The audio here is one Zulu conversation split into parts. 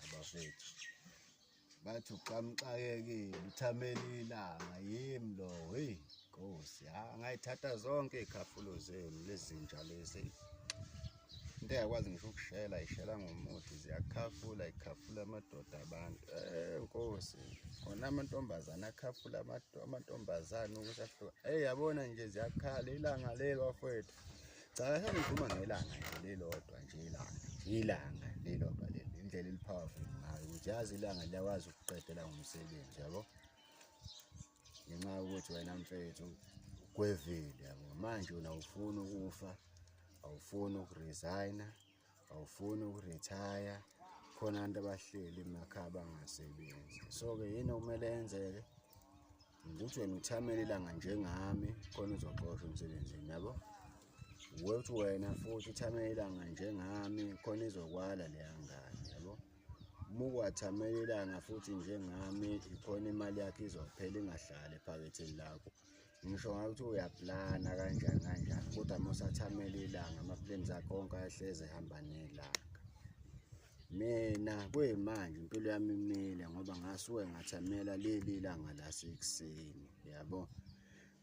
abafethu bathi uqamuxakekile uthamele ilanga yimi lo heyi nkosi ha ngayithatha zonke iy'khafulo zenu lezinja lezi into eyakwazi ngisho ukushela ishela ngomuthi ziyakhafula ikhafula amadoda abantu eh nkosi khona amantombazane akhafula amantombazane ukuthi ahluka eyi yabona nje ziyakhala ilanga leli bafowethu cha kahle ngikhuluma ngelanga nje lelodwa nje ilanga ilanga lelodwa leli indlela elipowerful ngayo ukuthi yazi ilanga liyakwazi ukuqedela ngomsebenzi yabo ngenxa yokuthi wena mfethu kwevile yabo manje wena awufuni ukufa awufuni ukuresigna awufuni ukurithaya khona abantu abahleli emakhaya bangasebenzi so-ke yini okumele yenzeke ukuthi wena uthamele ilanga njengami khona uzoxoshwa emsebenzini yabo ukuthi wena futhi uthamele ilanga njengami khona izokwala leya ngane yabo uma ukwathamela ilanga futhi njengami ikhona imali yakho izophela ingahlali ephaketheni lakho ngisho ngayo ukuthi uyaplana kanjani kanjani kodwa uma usathamela ilanga amaplans akhe onke ayahleze ehamba nelanga mina kuyimanje impilo yami imile ngoba ngasuke ngathamela leli langa lasekuseni yabo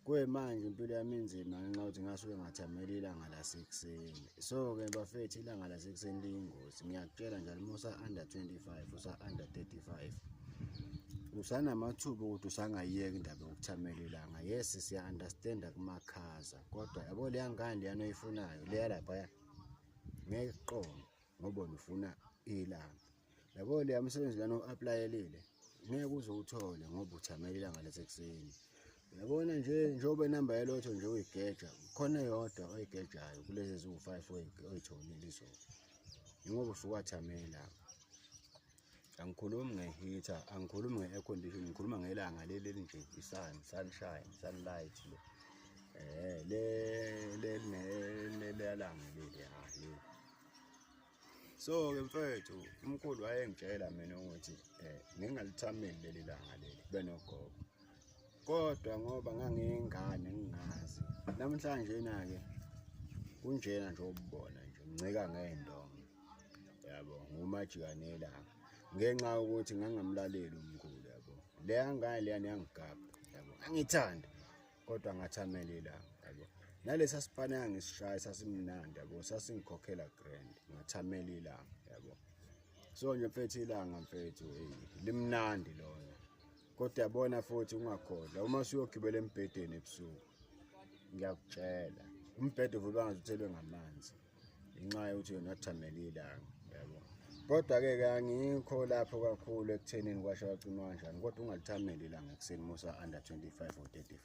kuyimanje impilo yami inzima ngenxa yokuthi ngasuke ngathamela ilanga lasekuseni so-ke bafethu ilanga lasekuseni liyingozi ngiyakutshela njalo uma usa-under 25 usa-under 35 usanamathuba ukuthi usangayiyeka indaba yokuthamela ilanga yes siya-understanda kumakhaza kodwa yabo leya ngane leyana oyifunayo leya laphaya ngeke kuqonde ngoba ufuna ilanga yabo leya msebenzi lana u-aplayelile ngeke uze uwuthole ngoba uthamela ilanga lasekuseni Yabona nje njengoba inamba yalotho nje uyigeja khona yodwa oyigejayo kulezi eziwu-five oyitholile izolo yingoba usuke wathamela angikhulumi nge-heater angikhulumi nge-air condition ngikhuluma ngelanga leli elinje i-sun sunshine sunlight le um le leliyalanga leli ha leli so-ke mfethu umkhulu wayengitshela mina ukuthi um ngingaluthameli leli langa leli kube nogogo kodwa ngoba ngangiyingane ngingazi namhlanje na-ke kunjena nje obubona nje ngincika ngey'ndongo yabo ngumajikanela ngenxa yokuthi ngangamlaleli umkhulu yabo leya ngane leyani yangigabha yabo angithanda kodwa ngathi amele ilanga yabo nalesa sipane angisishaya sasimnandi yabo sasingikhokhela grand ngathi amele ilanga yabo so nje mfethu ilanga mfethu hey limnandi lona kodwa yabona futhi ungakhohlwa uma suyogibela embhedeni ebusuku ngiyakutshela umbhede uvuba ngazuthelwe ngamanzi inxa yokuthi yona athamele ilanga yabo kodwa-ke ke angikho lapho kakhulu ekuthenini kwasho wacima kanjani kodwa ungalithameli ilanga ekuseni musa-under 25 or 35